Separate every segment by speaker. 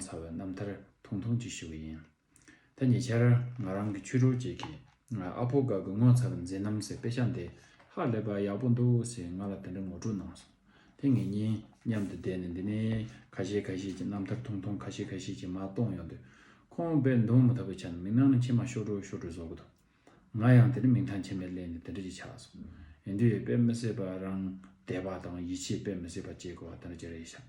Speaker 1: ཚ་བའི་རྣམ་ཐར་ཐུང་ཐུང་ཅིག་ཞུ་གི་ཡིན། ད་ཉེ་ཆར་ང་རང་གི་ཆོས་གྲོགས་གཅིག་གིས་ང་ཨ་ཕོ་དགའ་དགུ་ངོ་ཚ་བའི་མཛེས་རྣམ་ཟེར་དཔེ་ཆ་འདི་ཧ་ལས་པ་ཡག་པོ་འདུག་ཟེར་ང་ལ་དེ་འདྲ་ངོ་སྤྲོད་གནང་སོང། དེ་ངེད་གཉིས་མཉམ་དུ་བསྡད་ནས་འདི་ནས་ཁ་ཤས་ཁ་ཤས་ཀྱི་རྣམ་ཐར་ཐུང་ཐུང་ཁ་ཤས་ཁ་ཤས་ཀྱི་མ་གཏོང་ཡོང་དུས་ཁོང་བས་མདུང་མ་ཐོགས་པའི་ཆ་ནས་མིག་ནང་ནས་མཆི་མ་ཤོར་བྲོ་ཤོར་བྲོ་བཟོ་གི་འདུག་ང་ཡང་དེ་ནི་མིང་ཐང་ཆེན་པོའི་སླད་ནས་དེ་འདྲ་ཞིག་ཆགས་སོང། ཡིན་དུས་དཔེ་མི་སྲིད་པ་རང་དད་པ་དང་ཡིད་ཆེས་དཔེ་མི་སྲིད་པ་བཅས་གོ་བ་དེ་འདྲ་ཅིག་རེད་བྱ།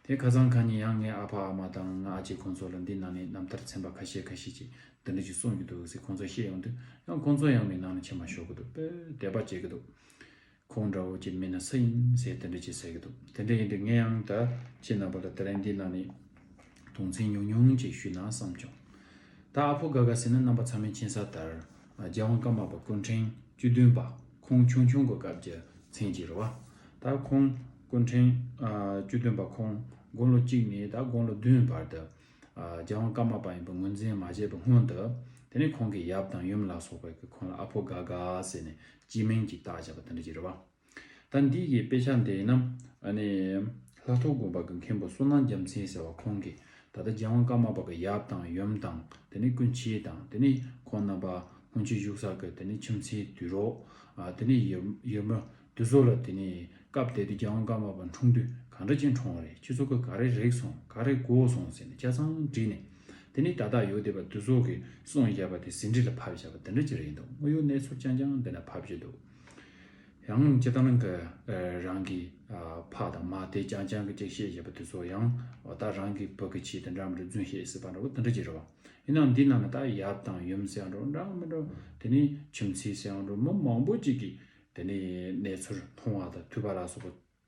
Speaker 1: དེ་ཁ་ཚང་གང་ཉིད་ཡང་ངའི་ཨ་ཕ་ཨ་མ་དང་ང་ཨ་ཅེ་ཁོང་ཚོ་ལ་འདི་ནང་ནས་རྣམ་ཐར་ཚན་པ་ཁ་ཤས་ཁ་ཤས་ཀྱིས་འདི་འདྲ་ཞིག་གསུངས་ཀྱི་འདུག་ཟེར་ཁོང་ཚོ་བཤད་ཡོང་དུས་ཡང་ཁོང་ཚོ་ཡང་མིག་ནང་ནས་ཕྱེ་མ་ཞོག་གི་འདུག་དཔེ་དད་པ་བྱེད་ཀྱི་འདུག། ཁོང་འདྲ་བོ་ཅིག་མེད་ན་སུ་ཡིན་ཟེར་དེ་འདྲ་ཅིག་ཟེར་གྱི་འདུག་དེ་འདྲ་ཡིན་དུས་ངས་ཡང་ད་ཁྱེད་རྣམ་པ་ལ་དེ་རིང་འདི་ན་ནས་དུང་ཆེན་ཉུང་ཉུང་ཅིག་ཞུས་ན་བསམ་བྱུང། ད་ཨ་ཕོ་དགའ་དགའ་ཟེར་ན་རྣམ་པ་ཚང་མའི་མཁྱེན་ས་ལྟར་རྒྱལ་དབང་ཀརྨ་པ་སྐུ་འཕྲེང་བཅུ་བདུན་པ་ཁོང་ཆུང་ཆུང་གི་སྐབས་ཀྱི་མཚན་གྱི་རེད་བ། ད་ཁོང་སྐུ་འཕྲེང་བཅུ་བདུན་པ་ཁོང་དགུང་ལོ་གཅིག་ནས་ད་དགུང་ལོ་བདུན་བར་དུ་རྒྱལ་དབང་ཀརྨ་པ་ཡིན་པ་ངོས་འཛིན་མ་བྱས་པའི་སྔོན་དུ་དེ་ནས་ཁོང་གི་ཡབ་དང་ཡུམ་ལ་སོགས་པས་ཁོང་ལ་ཨ་ཕོ་དགའ་དགའ་ཟེར་ནས་སྤྱི་མིང་གི་རྟགས་བྱ་བ་དེ་འདྲ་ཅི་རེད་བ། ད་འདི་གི་དཔེ་ཆ་འདི་ན། ལྷ་ཐོ་དགོན་པ་གི་མཁན་པོ་བསོད་ནམས་རྒྱ་མཚན་ཟེར་བ་ཁོང་གིས་ད་ལྟ་རྒྱལ་དབང་ཀརྨ་པ་གི་ཡབ་དང་ཡུམ་དང་དེ་ནས་ཀུན་བྱེད་དང་དེ་ནས་ཁོང་རྣམ་པ་སྔོན་ཆད་བཞུགས་ས་གི་དེ་ནས་ཁྱིམ་མཚེས་དུས་རོགས། དེ་ནས་ཡུལ་མི་དུས་ཚོད་ལ་དེ་ནས་སྐབས་དེ་དུས་རྒྱལ་དབང་ཀརྨ་པ་འཁྲུངས་དུས་གང་འདྲ་ཅན་འཁྲུངས་བ་རེད་ཁྱེད་ཚོ་གི་ག་རེ་རེག་སོང་ག་རེ་གོ་སོང་ཟེར་ནས་ཆ་ཚང་བྲིས་ནས་དེ་ནི་ད་དག་ཡོ་དེ་པ་དུ་ཟོག་གི་སོང་བཞག་པ་དེ་ཟིན་བྲིས་ལ་ཕབ་བཞག་པ་དེ་འདྲ་ཅི་རེད་ཡིན་འདུག་དངོས་ཡོད་གནས་ཚུལ་ཅན་ཀྱང་འདི་ན་ཕབ་བཞིན་འདུག་ཡང་ཅི་ད་ནང་གི་རང་གི་ཕ་དང་མ་དེ་ཅང་ཅང་གི་ཅིག་བཤད་བཞག་པ་དུ་ཟོག་ཡང་ད་རང་གི་བུ་གི་ཆེད་དེ་འདྲ་མི་འགྲོ་རྫུན་བཤད་སྲིད་པ་འདྲ་བོ་དེ་འདྲ་ཅི་རེད་བ་ཡིན་ནའང་འདི་ནང་ན་ད་ཡབ་དང་ཡུམ་ཟེར་ཡང་འགྲོ་འདྲ་མི་འགྲོ་དེ་ནི་ཁྱིམ་མཚེས་ཟེར་ཡང་འགྲོ་མི་མང་པོ་ཅིག་གིས་དེ་ནི་གནས་ཚུལ་མཐོང་བ་དང་ཐོས་པ་ལ་སོགས་པ་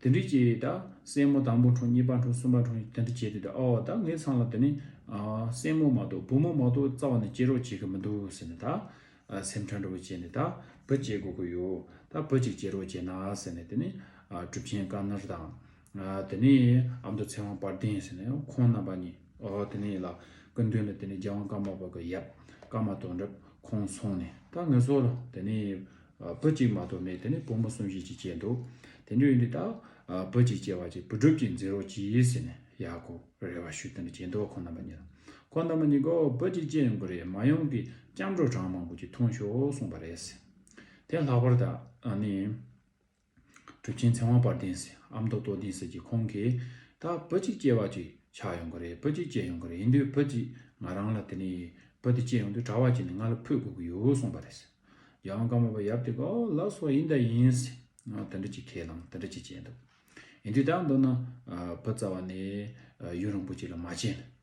Speaker 1: དེ་འདྲི་བྱེད་དེ་དག་སེན་མོ་དང་པོ་འཁྲུངས་གཉིས་པ་འཁྲུངས་གསུམ་པ་འཁྲུངས་དེ་འདྲི་བྱེད་དེ་དག་ཨོ་ད་ངའི་མཚང་ལ་དེ་ནི་སེན་མོ་མ་གཏོགས་བུ་མོ་མ་གཏོགས་རྩ་བ་ནས་སྐྱེ་རོགས་བྱེད་ཀྱི་མི་འདུག་ཟེར་ནས་ད་སེམས་ཁྲལ་འདྲ་བོ་བྱས་ནས་ད་བུ་སྐྱེ་དགོས་ཀྱི་ཡོད་ད་བུ་གཅིག་སྐྱེ་རོགས་བྱས་ན་ཟེར་ནས་དེ་ནི་གྲུབ་ཆེན་བཀའ་ནར་དང། དེ་ནས་ཨ་མདོ་ཚེ་དབང་དཔལ་ལྡན་ཟེར་ནས་ཁོང་རྣམ་པ་གཉིས་ཨོ་དེ་ནི་ལ་སྐུ་མདུན་ལ་དེ་ནི་རྒྱལ་དབང་བཀའ་མ་པ་གི་ཡབ་བཀའ་མ་དོ་འདྲ་ཁོང་སོང་ནས་ད་ངའི་སྲོག་ལ་དེ་ནི། བུ་གཅིག་མ་གཏོགས་མེད་དེ་ནས་བུ་མོ་གསུམ་བཞི་གཅིག་བྱས་འདུག་དེ་འདྲའི་ཡུལ་འདི་དག་བུ་གཅིག་བྱས་བ་ཅིག་བུ་སྒྲུབ་ཅིག་འཛིན་རོགས་གྱིས་ཟེར་ནས་ཡག་གོ་རེ་བ་ཞུས་དེ་འདྲ་བྱས་འདུག་ཁོང་རྣམ་པ་གཉིས་དང་ཁོང་རྣམ་པ་གཉིས་ཀའོ་བུ་གཅིག་བྱས་ཡོང་གི་རེད་མ་ཡོང་གི་སྐྱབས་འགྲོ་གྲངས་མང་པོ་གཅིག་འཐུང་ཤོག་གསུངས་པ་རེད། དེ་ལྷག་པར་ད་ནི། གྲུབ་ཆེན་ཚེ་དབང་དཔལ་ལྡན་སི་ཨམ་མདོ་སྟོད་ལྡན་སི་ཀྱི་ཁོང་གིས། ད་བུ་གཅིག་སྐྱེས་བ་ཅིག་ཆགས་ཡོང་གི་རེད་བུ་གཅིག་སྐྱེས་ཡོང་གི་རེད་ཡིན་དུས་བུ་གཅིག་ང་རང་ལ་དེ་ནས་བུ་དེ་སྐྱེས་ཡོང་དུས་གྲྭ་བ་གཅིག་ནས་ང་ལ་ཕུད་དགོས་ཀྱི་ཡོད་གསུངས་པ་རེད། རྒྱལ་དབང་བཀའ་མོལ་བ་ཡབ་དེ་ག་ལ་སོགས་ཡིན་ད་ཡིན། དེ་འདྲ་གཅིག་ཁས་བླངས་དེ་འདྲ་གཅིག་བྱས་འདུག་ཡིན་དུས་ད་མདོར་ན་བུ་བཙའ་བ་ནས་ཡུན་རིང་པོ་གཅིག་ལ་མ་བྱས་ན།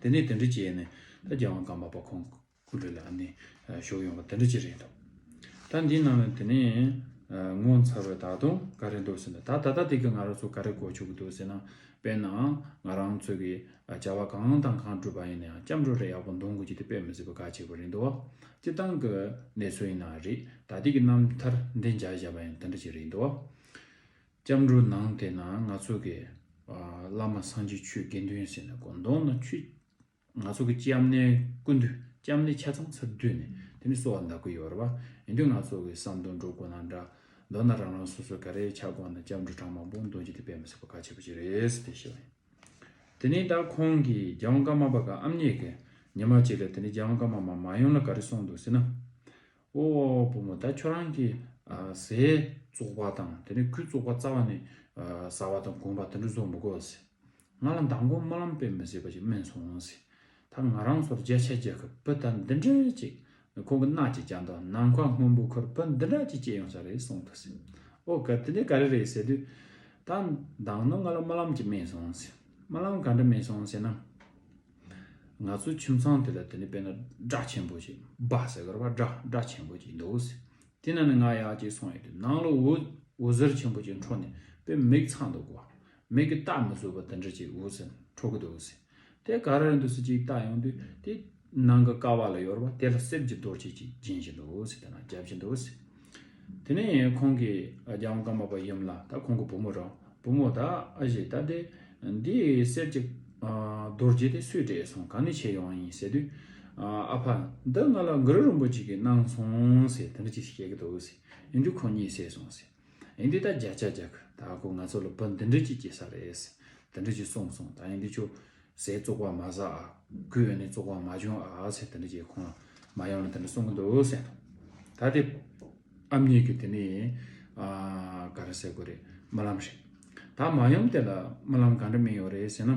Speaker 1: དེ་ནས་དེ་འདྲ་བྱས་ནས་ད་རྒྱལ་དབང་ཀརྨ་པ་ཁོང་སྐུ་དྲུང་ལ་ཨ་ནི་ཞོགས་ཡོང་བ་དེ་འདྲ་ཅི་རེད་འདུག་ད་འདི་གནང་བས་དེ་ནས་ངོ་མཚར་བས་ད་དུང་ག་རེ་འདུག་ཟེར་ན་ད་ད་ལྟ་དེ་གི་ང་རང་ཚོ་ག་རེ་གོ་ཆོག་གི་འདུག་ཟེར་ན་དཔེར་ན་ང་རང་ཚོ་གི་བྱ་བ་གང་དང་གང་སྒྲུབ་པ་ཡིན་ན་ཡང་སྐྱབས་འགྲོ་རེ་ཡག་པོ་འདོང་དགོས་ཀྱི་དེ་དཔེ་མི་སྲིད་པ་ག་ཅིག་པ་རེད་འདུག་སྤྱི་བཏང་གི་གནས་ཚུལ་ཡིན་ནའང་རེད་ད་དེ་གི་རྣམ་ཐར་འདི་འཇགས་བཞག་པ་ཡང་དེ་འདྲ་ཅི་རེད་འདུག་སྐྱབས་འགྲོ་ནང་དེ་ན་ང་ཚོ་གི་བླ་མ་སངས་རྒྱས་ཆོས་དགེ་འདུན་ཟེར་ནས་གོ་མདོང་ན་ཆུ་ང་ཚོ་གི་སྐྱབས་གནས་ཀུན་འདུས་སྐྱབས་གནས་ཆ་ཚང་ཚར་བསྡུས་ནས་དེ་ནས་གསོལ་བ་འདག་གི་ཡོད་རེད་བ་ཡིན་དུས་ང་ཚོ་གི་བསམ་དོན་འགྲོ་དགོས་ན་འདྲ་མདོར་ན་རང་རང་སོ་སོས་ག་རེ་བྱ་དགོས་ན་སྐྱབས་འགྲོ་གྲངས་མང་པོ་འདོན་རྒྱུ་དེ་དཔེ་མི་སྲིད་པ་གལ་ཆེ་པོ་ཞིག་རེད་ཟེར་ཏེ་ཤི་བ་ཡིན། དེ་ནས་ད་ཁོང་གིས་རྒྱལ་དབང་ཀརྨ་པ་ག་ཨམ་ཉེས་ཀྱི་ཉི་མ་གཅིག་ལ་དེ་ནས་རྒྱལ་དབང་ཀརྨ་མ་མ་ཡོང་ན་ག་རེ་གསུངས་འདུག་ཟེར་ན། ཨོ་བུ་མོ་ད་ཁྱོད་རང་གི་ཟས་བཙོག་པ་དང་དེ་ནས་ཁུ་བཙོག་པ་རྩ་བ་ནས་ཟ་བ་དང་གོན་པ་དེ་འདྲ་བཟོ་མི་དགོས་ཟེར། ང་ལ་མདང་དགོང་སྨོན་ལམ་སྤེལ་མི་ཟེར་བ་ཞིག་སྨྲས་སོང་ཟེར། ད་ང་རང་ཚོར་རྒྱ་ཆ་རྒྱག་སྐབས་བུ་ད་འདི་འདྲ་ཅིག་ཁོང་གི་སྣག་ཅིག་བཅག་འདུག་ནམ་མཁའ་སྔོན་པོ་ཁོར་བུ་འདི་འདྲ་ཅིག་སྐྱེས་ཡོང་ས་རེད་གསུངས་འདུག་ཟེར། ཨོ་ག་དེ་འདྲ་ག་རེ་རེད་ཟེར་དུས། ད་མདང་ནོར་ང་ལ་སྨོན་ལམ་ཅིག་སྨྲས་སོང་ཟེར། སྨོན་ལམ་ག་འདྲ་སྨྲས་སོང་ཟེར་ན། ང་ཚོའི་ཁྱིམ་ཚང་དེ་ལ་དེ་ནི་དཔེར་ན་སྒྲ་ཆེན་པོ་ཞིག་སྦ་ཟེར་གར་བ་སྒྲ་སྒྲ་ཆེན་པོ་ཅིག་འདུག་ཟེར་དེ་ན་ནི་ང་ཡག་ཅིག་སོང་ཡོད་དུས་ནང་ལ་འུར་འུར་ཟེར་ཆེན་པོ་ཅིག་འཕྲོ་ནས་དཔེར་མིག་ཚ་འདུག་གོ་མིག་གིས་བལྟ་མི་བཟོད་པ་འདི་འདྲ་ཅིག་འུར་ཟེར་འཕྲོ་གི་འདུག་ཟེར་དེ་ག་རེར་འདུག་ཟེར་ཅིག་བལྟ་ཡོང་དུས་དེ་ནང་གི་ཀ་བ་ལ་ཡོར་བ་དེ་ལ་གསེབ་ཀྱི་རྡོ་རྗེ་ཅིག་སྦྱིན་བཞིན་འདུག་ཟེར་དེ་ན་རྒྱབ་ཀྱི་འདུག་ཟེར། དེ་ནས་ཁོང་གིས་རྒྱ་དབང་ཀརྨ་པ་ཡུམ་ལ་ད་ཁོང་གི་བུ་མོ་རང་བུ་མོ་ད་ཨ་ཞེས་བཏགས་ཏེ། འདི་གསེར་གྱི་རྡོ་རྗེ་དེ་སུས་སྤྲད་སོང་གང་ནས་ཁྱེར་ཡོང་བ་ཡིན་ཟེར་དུས། ཨ་ཕ་འདི་ང་ལ་མགུར་རིན་པོ་ཆེ་གིས་གནང་སོང་ཟེར་དེ་འདྲ་ཅིག་བཤད་ཀྱི་འདུག་ཟེར་ཡིན་དུས་ཁོང་གཉིད་སད་སོང་ཟེར། ཡིན་དུས་ད་བརྒྱ་ཆ་རྒྱག་གི་ད་ཁོ་ང་ཚོ་ལ་བུ་འདི་འདྲ་ཅིག་སྐྱེས་ས་རེད་ཟེར་དེ་འདྲ་ཅིག་གསུངས་སོང་ད་ཡིན་དུས་ཁྱོད། ཟས་བཙོག་པ་མ་བཟའ་ཨ། གོས་ཡོན་ནི་བཙོག་པ་མ་སྦྱོང་ཨ་ཟེར་དེ་འདྲ་བྱས་ཁོང་ལ་མ་ཡོང་ལ་དེ་འདྲ་གསུང་གི་འདུག་ཟེར་དང། ད་དེ། ཨམ་གཉིས་ཀྱི་དེ་ནི། ག་རེ་ཟེར་དགོས་རེད་རྨི་ལམ་རེད། ད་མ་ཡོང་དེ་ལ་རྨི་ལམ་ག་འདྲ་མིན་ཡོད་རེད་ཟེར་ན།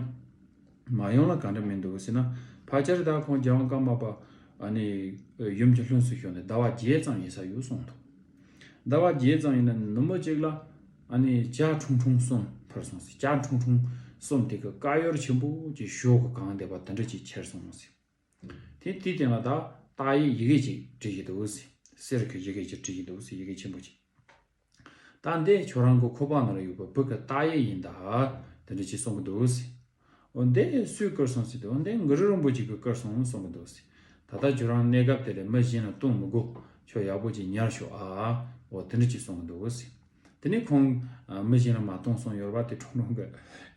Speaker 1: མ་ཡོང་ལ་ག་འདྲ་མིན་འདུག་ཟེར་ན་བག་ཆགས་རེ་ད་ཁོང་རྒྱལ་དབང་བཀའ་མ་པ། ཨ་ནི། ཡུམ་གྱི་ལྷུན་སུ་ཞོག་ནས་ཟླ་བ་བརྒྱད་ཙམ་ཡིན་ས་ཡོད་གསུང་འདུག། ཟླ་བ་བརྒྱད་ཙམ་ཡིན་ན་ནུ་མོ་གཅིག་ལ་བྱ་ཁྲུང་ཁྲུང་གསུམ་འཕར་སོང་ཟེར་བྱ་ཁྲུང་ཁྲུང་གསུམ་དེ་གི་དཀར་ཡོལ་ཆེན་པོ་གི་གཞོགས་གི་གང་བསྡད་པ་དེ་འདྲ་གཅིག་ཁྱེར་སོང་ཟེར། དེ་དེའི་སྟེང་ལ་ད་ཏག་ཡི་ཡི་གེ་གཅིག་བྲིས་ཀྱི་འདུག་ཟེར་གསེར་གྱི་ཡི་གེ་གཅིག་བྲིས་ཀྱི་འདུག་ཟེར་ཡི་གེ་ཆེན་པོ་གཅིག། ད་འདི་ཁྱོད་རང་གི་ཁོ་པ་ན་ར་ཡོད་པ་བུ་གི་ཏག་ཡིག་ཡིན་ད་དེ་འདྲ་བྱས་སོང་གི་འདུག་ཟེར། འོན་ཏེ་སུས་བསྐུར་སོང་ཟེར་ཏེ་འོན་ཏེ་འགུ་རུ་རིན་པོ་ཆེ་གིས་བསྐུར་སོང་གསུང་གི་འདུག་ཟེར། ད་ལྟ་ཁྱོད་རང་གནས་སྐབས་དེ་ལས་མི་གཞན་ལ་ལྟུང་མི་དགོས་ཁྱོད་ཡག་པོ་ཅིག་ཉར་ཤོག་ཨའོ་དེ་འདྲ་ཅིག་གསུང་གི་འདུག་ཟེར། དེ་ནས་ཁོང་མི་གཞན་ལ་མ་ལྟུང་སོང་ཡོད་ར་བ་དེ་ཁྲོམ་རོང་གི་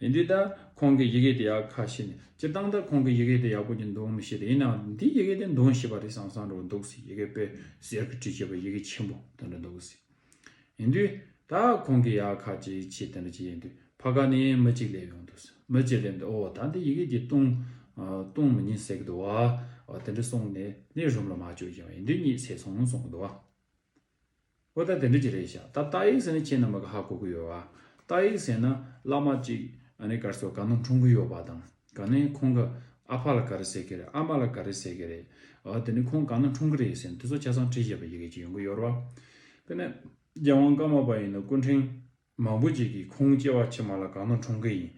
Speaker 1: ཡིན་དུས་ད་ཁོང་གི་ཡི་གེ་དེ་ཡག་ཁ་ཤེས་ནས་སྤྱིར་བཏང་ད་ཁོང་གི་ཡི་གེ་དེ་ཡག་པོ་ཅིག་འདུག་མི་ཤེས་ཏེ་ཡིན་ནའང་འདིའི་ཡི་གེ་དེ་འདུག་ཤེས་པ་རེད་བསམ་བསམ་རེ་བ་འདུག་ཟེར་ཡི་གེ་དཔེ་གཟེར་གྱི་བྲིས་བྱས་པ་ཡི་གེ་ཆེན་པོ་དེ་འདྲ་འདུག་ཟེར། ཡིན་དུས། ད་ཁོང་གི་ཡ་ཁ་ཅིག་ཕྱིས་དེ་འདྲ་ཅིག་ཡིན་དུས་ཕ་ག་ནས་མི་གཅིག་སླེབས་ཡོང་འདུག་མི་གཅིག་སླེབས་འདུག་ཨོ་ད་འདི་ཡི་གེ་འདི་ཏུང། ཏུང་མི་ཉིད་ཟེར་གི་འདུག་བ། དེ་འདྲ་གསུངས་ནས་ནས་རུམ་ལ་མ་བཅུག་ཀྱང་ཡིན་དུས་གཉིད་སད་སོང་གསུངས་གི་འདུག་བ། ཨོ་ད་དེ་འདྲ་ཅིག་རེད་ཤག་ད་རྟ་ཡིག་ཟེར་ནི་ཁྱེད་རྣམས་པ་ག་ཧ་གོ་གི་ཡོད་བ། རྟ་ཡིག་ཟེར་ན་བླ་མ་ཅིག་ཨ་ནེ་གར་སོ་ག་ནང་འཁྲུངས་གི་ཡོད་བ་དང། ག་ནས་ཁོང་གི་ཨ་ཕ་ལ་ག་རེ་ཟེར་གི་རེད་ཨ་མ་ལ་ག་རེ་ཟེར་གི་རེད། འོ་དེ་ནས་ཁོང་གང་ན་འཁྲུངས་གི་རེད་ཟེར་ནས་དེ་ཚོ་ཆ་ཚང་བྲིས་བཞེས་པ་ཡི་གེ་གཅིག་ཡོང་གི་ཡོད་རོ། དེ་ནས་རྒྱལ་དབང་བཀའ་མ་པ་ཡིན་ན་སྐུ་འཕྲེང་མང་པོ་ཅིག་གིས་ཁོང་སྐྱེ་བ་ཕྱི་མ་ལ་གང་ན་འཁྲུངས་གི་ཡིན་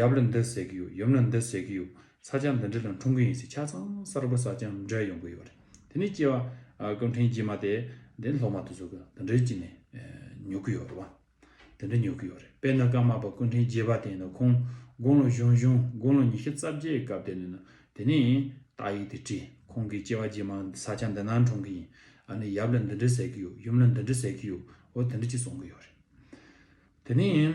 Speaker 1: ཡབ་ལ་འདི་ཟེར་གི་ཡོད་ཡུམ་ལ་འདི་ཟེར་གི་ཡོད་ས་ཆ་འདི་འདྲི་ལ་འཁྲུངས་གི་ཡིན་ཟེར་ཆ་ཚང་གསར་བུ་གསར་རྐྱང་འདྲ་ཡོང་གི་ཡོད་རེད་དེ་ནས་སྐྱེ་བ་སྐུ་འཕྲེང་རྗེས་མ་དེ་དེ་ལྷོ་མ་དེ་ཚོ་གི་འདི་འདྲི་གཅིག་ནས་ཉོ་གི་ཡོད་རོ། དེ་འདྲ་ཉོ་གི་ཡོད་རེད་དཔེར་ན་ཀརྨ་པ་ཀུན་ཕྲན་རྒྱས་པ་དེ་ཡིན་ན་ཁོང་དགུང་ལོ་གཞུང་གཞུང་དགུང་ལོ་ཉི་ཤུ་རྩ་བརྒྱད་ཀྱི་སྐབས་དེ་ནས་དེ་ནས་རྟགས་ཡིག་དེ་བྲིས་ཁོང་གི་སྐྱེ་བ་རྗེས་མ་ས་ཆ་འདི་ནང་གྲོང་གི་ཡིན་ཨ་ནི་ཡབ་ལ་འདི་འདྲི་ཟེར་གི་ཡོད་ཡུམ་ལ་འདི་འདྲི་ཟེར་གི་ཡོད་འོ་དེ་འདྲི་གཅིག་གསུང་གི་ཡོད་རེད་དེ་ནས།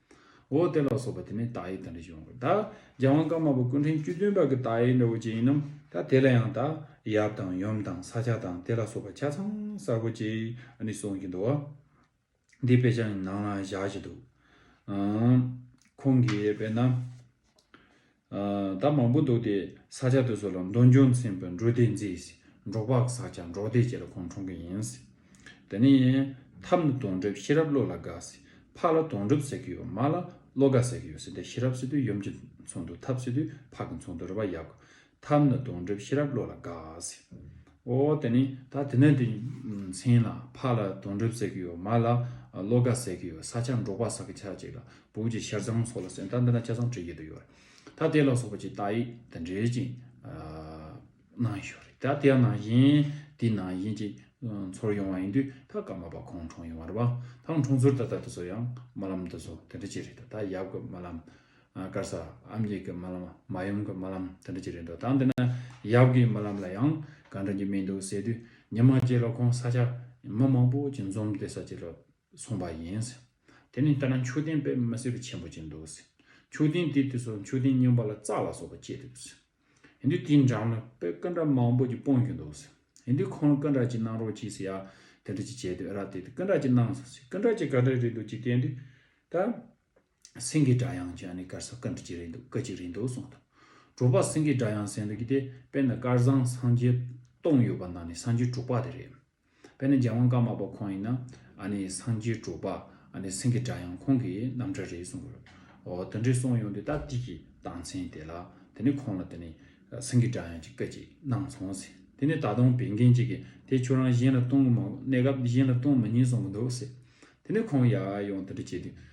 Speaker 1: འོ་དེ་ལ་སོགས་པ་དེ་ནི་དག་ཡིག་དང་རིགས་ཡོང་གི། ད་རྒྱ་དབང་བཀའ་མ་པོ་སྐུ་འཕྲེང་བཅུ་བདུན་པ་གི་དག་ཡིག་འདྲ་བོ་ཅི་ཡིན་ནམ། ད་དེ་ལ་ཡང་དག་ཡབ་དང་ཡུམ་དང་ས་ཆ་དང་དེ་ལ་སོགས་པ་ཆ་ཚང་གསར་བུ་ཅིག་ནི་གསུངས་ཀྱི་འདུག། འདི་དཔེ་ཆ་ནི་ནང་ན་བཞག་ཅིག་འདུག། ཁོང་གིས་དཔེར་ན། ད་མང་པོ་འདུག་དེ་ས་ཆ་དེ་ཚོ་ལ་མདོ་འཇོ་མཚན་པའི་འབྲོག་སྡེ་མཛེས། འབྲོག་པག་ས་ཆ་འབྲོག་སྡེ་བཅས་ལ་ཁོང་གྲོང་གི་ཡིན། དེ་ནས་ཐབ་ནི་དོང་གྲིབ་ཤེས་རབ་བློ་ལ་དགའ། ཕག་ལ་དོང་གྲིབ་ཟེར་གྱི་ཡོད་མ་ལ་བློ་དགའ་ཟེར་གྱི་ཡོད་སྲིད་དེ་ཤེས་རབ་སྲིད་དུ་ཡུམ་གྱི་ཚོགས་འདུ་ཐབ་སྲིད་དུ་ཕག་གི་ཚོགས་འདུ་རེ་བ་ཡག་གོ་ཐབས་ནི་སྡོང་གྲིབ་ཤེས་རབ་བློ་ལ་དགའ། ཨོ་དེ་ནི་ད་དེ་ནས་དེ་མཚན་ལ་ཕག་ལ་སྡོང་གྲིབ་ཟེར་གྱི་ཡོད་མ་ལ་བློ་དགའ་ཟེར་གྱི་ཡོད་ས་ཆ་འབྲོག་པ་ཟ་གི་ཆ་གཅིག་ལ་བུག་གཅིག་ཤར་ཚང་སོགས་ལ་སེམས་ད་འདི་ན་ཆ་ཚང་བྲི་བགྱིད་དུ་ཡོད་རེད་ད་དེ་ལ་སོགས་པ་ཅིག་དག་ཡིག་དང་འབྲེལ་ཅིག་གནང་ཞོར་རེད་ད་དེའང་ནང་བཞིན་དེའི་ནང་བཞིན་ཅིག་ཚོར་ཡོང་བ་ཡིན་དུས་ད་སྐར་མ་པ་ཁོང་གྲོངས་ཡོང་བ་རེད་བ་ཐང་གྲོངས་ཚུར་ད་ད་དེ་ཚོ་ཡང་རྨ་ལམ་དེ་ཚོ་དེ་འདྲ་ཅིག་རེད་ད་ད་ཡབ་ཀྱི་རྨ་ལམ་དཀར་ས་ཨམ་གྱི་གི་རྨ་ལམ་མ་ཡུམ་གྱི་རྨ་ལམ་དེ་འདྲ་གྱི་རེད་འདུག་ད་འདི་ན་ཡབ་གྱི་རྨ་ལམ་ལ་ཡང་ག་འདྲ་གྱི་མིང་འདུག་ཟེར་དུས་ཉི་མ་རྗེ་ལ་ཁོང་ས་ཆ་མི་མང་པོ་གྱི་འཛོམས་བདེ་ས་གཅིག་ལ་སོང་པ་ཡིན། དེ་ནི་ལྟ་ན་མཆོད་རྟེན་དཔེ་མི་སྲིད་པ་ཆེན་པོ་གཅིག་འདུག། མཆོད་རྟེན་དེའི་དུས་སུ་མཆོད་རྟེན་རྙིང་པ་ལ་རྩ་ལ་སོགས་པ་བཅས་འདུག། ཡིན་དུས་དེའི་འགྲམ་ལ་དཔེ་སྐུ་འདྲ་མང་པོ་གྱི་སྤུངས་གྱི་འདུག། ཡིན་དུས་ཁོང་ལ་སྐུ་འདྲ་གཅིག་གནང་རོགས་གྱིས་ཟེར་ཡ་དེ་འདྲ་གྱི་བྱས་དུས་ཨེ་རག་དེ་དུས་སྐུ་འདྲ་གཅིག་གནང། སྐུ་འདྲ་གཅིག་ག་འདྲ་རེད་འདུག་ཅིག་བལྟས་འདུག་ད། སེང་གེའི་སྒྲ་དབྱངས་ཀྱང་ནི་དཀར་ས་དཀར་འདྲ་གཅིག་རེད་འདུག་སྐད་ཅིག་རེད་འདུག་གསུངས་དང། དྲུག་པ་སེང་གེའི་སྒྲ་དབྱངས་གསལ་འདུག་གི་དེ་དཔེར་ན་དཀར་བཟང་སངས་རྒྱས་སྟོང་ཡོད་པ་ནང་ནས་སངས་རྒྱས་དྲུག་པ་དེ་རེད། དཔེར་ན་རྒྱལ་དབང་ཀརྨ་པ་ཁོང་ཡིན་ན་ཨ་ནི་སངས་རྒྱས་དྲུག་པ་ཨ་ནི་སེང་གེ་སྒྲ་དབྱངས་ཁོང་གི་རྣམ་གྲྭ་རེད་གསུངས་དགོས། འོ་དེ་འདྲའི་གསུངས་ཡོང་དུས་ད་ཐིག་གི་སྟངས་མཚན་དེ་ལ་དེ་ནི་ཁོང་ལ་དེ་ནི་སེང་གེའི་སྒྲ་དབྱངས་ཀྱི་སྐད་ཅིག་གནང་སོང་ཟེར་དེ་ནི་ད་དུང་བན་རྒན་གཅིག་གིས་དེ་ཁྱོད་རང་གཞན་ལ་གཏོང་གི་མ་གནས་སྐབས་གཞན་ལ་གཏོང་མི་ཉན་གསུངས་གི་འདུག་ཟེར་དེ་ནི་ཁོང་ཡར་ཡོང་དེ་འདྲ་བྱས་དུས།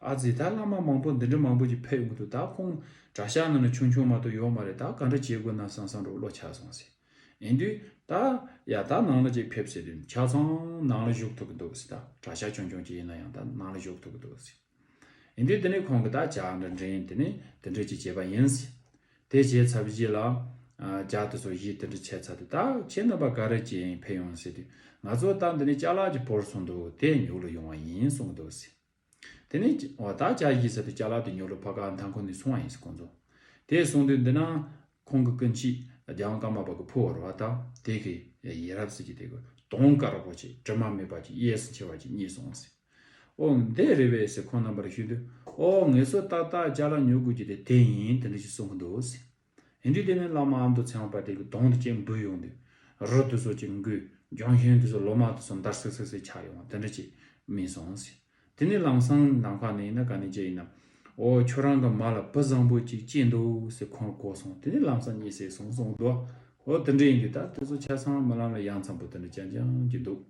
Speaker 1: ཨ་ཙི་ད་བླ་མ་མང་པོ་འདི་འདྲ་མང་པོ་ཅིག་ཕེབས་ཀྱི་འདུག་ད་ཁོང་གྲྭ་ཤག་ནང་ན་ཆུང་ཆུང་མ་གཏོགས་ཡོག་མ་རེད་ད་ག་འདྲ་བྱེད་དགོས་ན་སང་སང་རུ་བློ་ཆགས་སོང་ཟེར་ཨེ་འདུག་ད། ཡ་ད་ནང་ལ་ཅིག་ཕེབས་ཟེར་དུས་ཆ་ཚང་ནང་ལ་བཞུགས་ཐུབ་ཀྱི་འདུག་ཟེར་ད་གྲྭ་ཤག་ཆུང་ཆུང་ཅིག་ཡིན་ན་ཡང་ད་ནང་ལ་བཞུགས་ཐུབ་ཀྱི་འདུག་ཟེར་ཨེ་འདུག་དེ་ནས་ཁོང་གིས་ད་བྱ་འདྲ་འདྲ་ཡིན་དེ་ནས་འདི་འདྲ་ཅིག་བྱས་པ་ཡིན་ཟེར་དེ་བྱས་ཚར་བའི་རྗེས་ལ། ལྕགས་དེ་ཚོ་གཞིས་དེ་འདྲ་བྱས་ཚར་དུས་ད་ཁྱེད་རྣམ་པ་ག་རེ་བྱས་ཡིན་ཕེབས་ཡོང་ཟེར་དུས་ང་ཚོ་ད་འདི་ནས་ལྕགས་ལག་གཅིག་བོར་སོང་འདུག་དེ་ཉོ་གླུ་ཡོང་བ་ཡིན་གསུངས་འདུག་ཟེར། དེ་ནས། འོ་ད་ལྕགས་གཞིས་ཟེར་དུས་ལྕགས་ལག་དེ་ཉོ་གླུ་ཕ་ག་མཐའ་འཁོར་ནས་སོང་བ་ཡིན་ཟེར་གོ་མཚོན། དེ་གསུངས་དུས་འདི་ན། ཁོང་གི་སྐུ་མཆེད་རྒྱང་བཀའ་མ་པ་གི་ཕུ་བོར་བ་ད་དེ་གི། ཡེས་རབ་ཟེར་གྱི་དེ་གི། དོང་དཀར་པོ་ཆེ་དྲི་མ་མེད་པ་ཅིག་གཡས་སུ་འཁྱིལ་བ་ཅིག་རྙེད་སོང་ཟེར། ཨོ། འདི་རེད་བས་ཟེར་ཁོང་རྣམ་པར་ཞུས་དུས། ཨོ་ངེད་ཚོ་ཏག་ཏག་ལྕགས་ལ་ཉོ་དགོས་ཀྱི་དེ་དེ་ཡིན་དེ་འདྲ་ཞིག་གསུང་གི་འདུག་ཟེར། ཡིན་དུས་དེ་ནས་བླ་མ་ཨ་མདོ་ཚེ་དབང་དཔལ་ལྡན་གྱི་གདོང་དུ་ཅིག་འབུད་ཡོང་དུས། རོ་དེ་ཚོ་ཅིག་འགུལ། ལྗོན་ཤིང་དེ་ཚོ་ལོ་མ་དེ་ཚོ་འདར་སིག་སིག་སིག་ཆགས་ཡོང་དེ་འདྲ་ཅིག་སྨིན་སོང་ཟེར། དེ་ནས་ལམ་སང་ནམ་མཁའ་ནས་ཡིན་ན་ག་ནས་ཅི་ཡིན་ནམ། ཨོ་ཁྱོད་རང་གི་མ་ལ་བུ་བཟང་པོ་ཅིག་སྐྱེས་འདུག་ཟེར་ཁོང་གོ་སོང་དེ་ནས་ལམ་སང་གཉིད་སད་སོང་གསུང་གི་འདུག་ཨོ་དེ་འདྲ་ཡིན་དུས་ད་དེ་ཚོ་ཆ་ཚང་རྨི་ལམ་ལ་ཡང་འཚམས་པོ་དེ་འདྲ་ཅང་ཅང་གྱི་འདུག།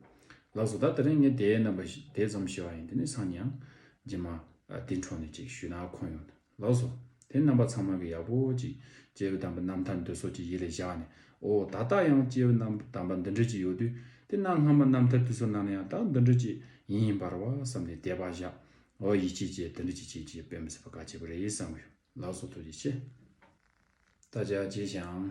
Speaker 1: ལགས་སོ་ད་ད་རིང་ངས་དེའི་རྣམ་པ་དེ་ཙམ་ཤེས་པ་ཡིན་དེ་ནས་སང་ཉིན་རྗེས་མ་དེ་འཕྲོ་ནས་ཅིག་ཞུས་ན་ཁོམ་ཡོང་ལགས་སོ། དེ་རྣམ་པ་ཚང་མ་གི་ཡག་པོ་ཅིག་སྐྱེ་བོའི་དམ་པ་རྣམ་ཐར་འདོད་སོགས་ཀྱི་ཡིད་ལས་བཞག་ནས་ཨོ་ད་ལྟ་ཡང་སྐྱེ་བོའི་རྣམ་པ་དམ་པ་འདི་འདྲ་ཅིག་ཡོད་དུས་དེ་གནའ་སྔ་མོ་རྣམ་ཐར་དུས་སུ་ནང་ན་ཡང་དག་འདི་འདྲ་ཅིག་ཡིན་ཡིན་པར་བ་བསམ་ནས་དད་པ་བཞག་ཨོ་ཡིད་ཆེས་ཀྱིས་འདི་འདྲ་ཅིག་བྱེད་ཀྱིས་དཔེ་མི་སྲིད་པ་ག་བྱེད་པ་རེད་བསམ་གི་ཡོད་ལགས་སོ་ཐུགས་རྗེ་ཆེ། ད་ཆ་རྗེས་ཤིག་ཨང།